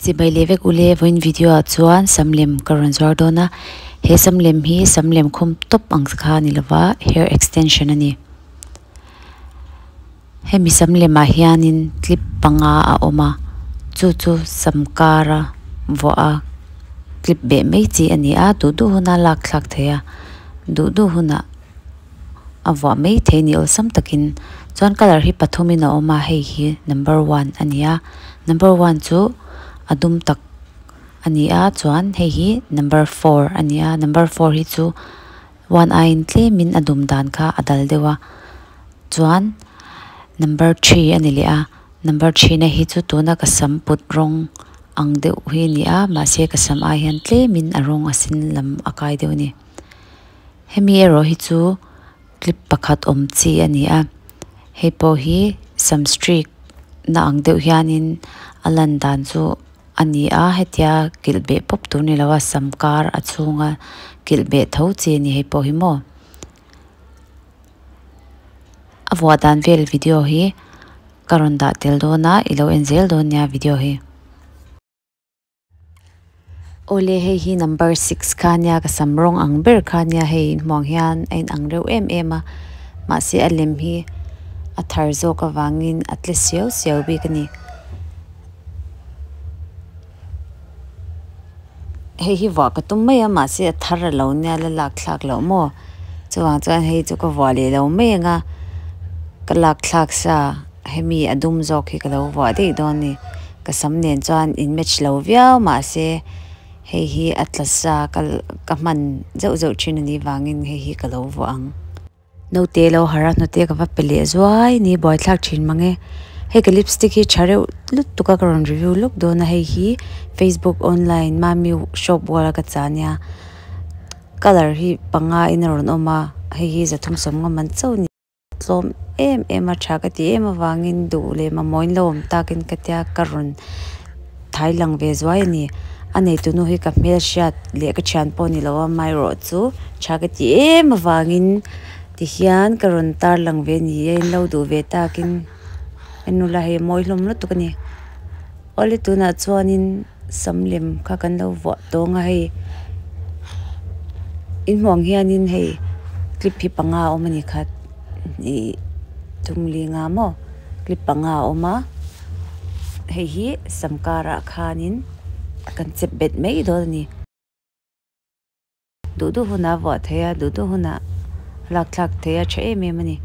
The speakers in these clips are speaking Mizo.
Che bai leh vek ule vawiin video ah chuan sam lem ka rawn zuar dawn a, he sam lem hi sam lem khum tawp ang kha a ni lova hair extension a ni. Hemi sam lem ah hianin clip panga a awm a chu chu sam kar a vuah a clip beh mai chi a ni a duh duh huna lak thlak thei a duh duh hunah-- a vuah maithei ni awlsam takin chuan colour hi pathumin a awm a hei hi number one a ni a number one chu a dum tak a ni a chuan hei hi number four a ni a number four hi chu one aiin tlemin a dum dan kha a dal deuh a chuan number three a ni leh a number three na hi chu tuna ka sam put rawng ang deuh hi a ni a mahse ka sam ai hian tlemin a rawng a sen lam a kai deuh a ni. hemi erawh hi chu clip pakhat awm chi a ni a hei pawh hi sam street na ang deuh hian in a lan dan chu a ni a hetia kilh beh pawp tur ni lo a sam kar a chhunga kilh beh tho chi a ni hei pawh hi maw a vuah dan vel video hi ka rawn dah tel dawn a i lo en zel dawn nia video hi. Awle hei hi number six kha nia ka sam rawng ang ber kha nia hei in hmuang hian a in ang reuh em em a mahse a lem hi a thar zawk avangin a tle siau siau bik a ni hei hi vuah ka tum mai a mahse a thar a lo nia la lak thlak loh maw chuvang chuan hei chu ka vuah leh lo mai ang a ka lak thlak sa. Hemi a dum zawk hi ka lo vuah daih dawn ni. Ka sam nen chuan in match lo viau mah se hei hi a tlasa ka hman zeuh zeuh thin a nih vangin hei hi ka lo vuah ang. Naute lo har a hnute ka va pe leh zuai ni buaithlak thin mang e. Hei ka lipstick hi tha reuh lut tuk a ka rawn review lawk dawn a hei hi Facebook online Mammy shop wall a ka chah nia colour hi panga in a rawn awm a hei hi za thum sawm ngawm ang chauh ni. tlawm em em a tha ka ti em avangin duh leh mamawin lo awm takin ka tia ka rawn thai lang ve zuai a ni a neitu nu hi ka hmelhriat leh ka thian pawh a ni lo a amaherawh chu tha ka ti em avangin tihian ka rawn tar lang ve a ni a in lo duh ve takin ka nula hi a mawi hlawm lutuk a ni awle tunah chuanin-- sam lem kha kan lo vuah tawng a hei inhmuang hianin hei clip hi panga a awm a ni kha ihh tûnglinga maw clip panga a awm a hei hi sam karah khanin kan che bet mai dawn a ni. Duh duh hunah a vuah thei a, duh duh hunah a lak thlak thei a tha em em a ni.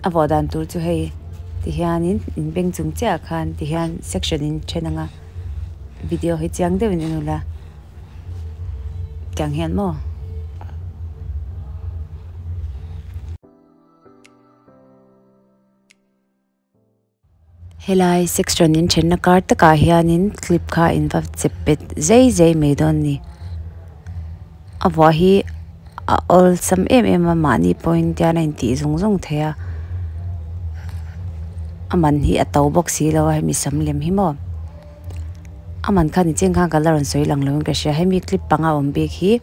A vuah dan tur chu hei tihianin in beng chung chiahah khan tihian section in then anga video hi chiang deuhin en ula tiang hian maw. Helai section in thenna kar takah hianin clip kha a inva chep bet zai zai mai dawn ni a vuah hi a awlsam em em a mahni pawhin tian a intih zung zung thei a a man hi a to bawk si lo a hemi sam lem hi maw a man kha ni chiang khan ka la rawn sawi lang lo in ka hria hemi clip panga awm bik hi--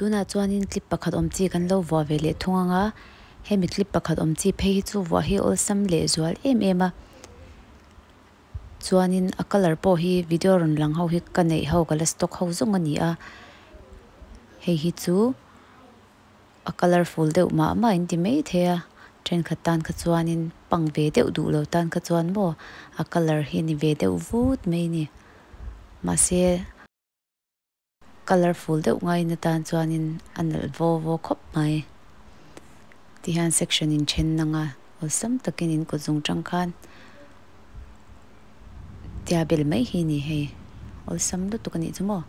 Tunah chuanin clip pakhat awm chi kan lo vuah ve leh thung anga, hemi clip pakhat awm chi phei hi chu vuah hi awlsam leh zual em em a. Chuanin a colour pawh hi video rawn lang ho hi ka neih ho ka la stock ho zawng a ni a. Hei hi chu a colourful deuh mah mah in ti maithei a, thenkhat tan kha chuanin pang ve deuh duh lo tan kha chuan maw a colour hi ni ve deuh vut mai a ni. Mahse. Colourful deuh ngaiin atan chuanin a nalh vo vo khawp mai. Ti hian section in then na nga awlsam takin in kut zung tang khan tia bel mai hi ni hei. Awlsam lutuk a nih chu maw.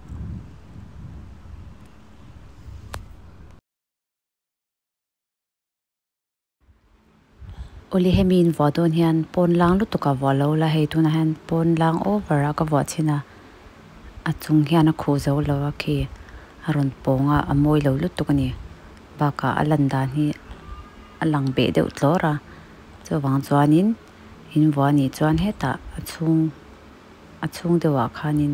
Awle hemi in vuah dawn hian pawn lang lutuk a vuah lo la, hei tunah hian pawn lang over a ka vuah chhin a, a chung hian a khuh zo lo a khi a rawn pawng a, a mawi lo lutuk a ni. Bakah a lan dan hi a lang beh deuh tlawr a, chuvang chuanin in vuah a nih chuan hetah a chhung, a chhung deuhah khanin.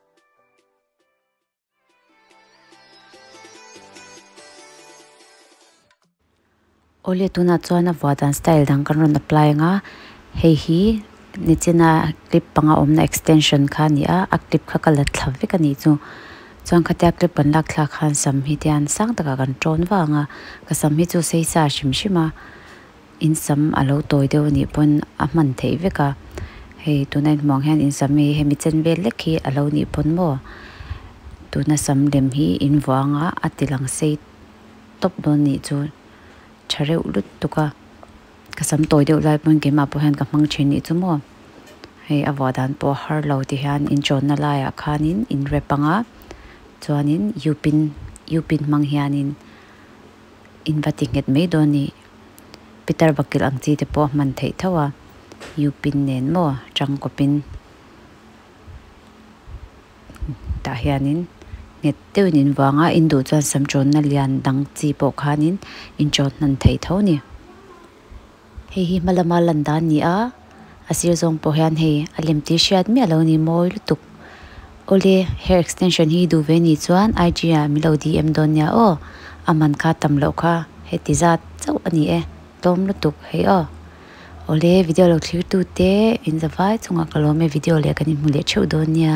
Awle tunah chuan a vua dan style dang kan rawn apply ang a, hei hi ni china clip panga awmna extension kha a ni a, a clip kha ka la thla vek a nih chu chuan khatia clip kan lak thlak khan sam hi tian sang takah kan tawn vang a, ka sam hi chu sei sa hrim hrim a. In sam a lo tawi deuh a nih pawn a hman theih vek a, hei tuna in hmuh ang hian in sam hi hemi chen vel lek hi a lo nih pawn maw? Tuna sam lem hi in vuah anga a ti lang sei tawp dawn nih chu tha reuh lut tuk a, ka sam tawi deuh lai pawn keimah pawh hian ka hmang thin nih chu maw? Hei a vuah dan pawh har lo ti hian in chawnna laiah khanin in rep anga chuanin Yupin, Yupin hmang hianin in va ti nghet mai dawn nih. Peter bakil ang chi te pawh a hman theih tho a, Yupin nen maw ṭang kawpin tah hianin nghet deuhin in vang a, in duh chuan sam ṭawnna lian dang chi pawh khanin in ṭawn hnan thei tho ni. Hei hi hmalama lan dan ni a. a sir zawng pawh hian hei a lem tih hriat miah lo ni mawi lutuk awle hair extension hi duh ve ni chuan IG ah mi lo dm dawn nia aw a man kha tam loh kha heti zat chauh a ni e tlawm lutuk hei aw awle video lo thlir tute inzavai chungah ka lawm e video leh kan inhmu leh theuh dawn nia.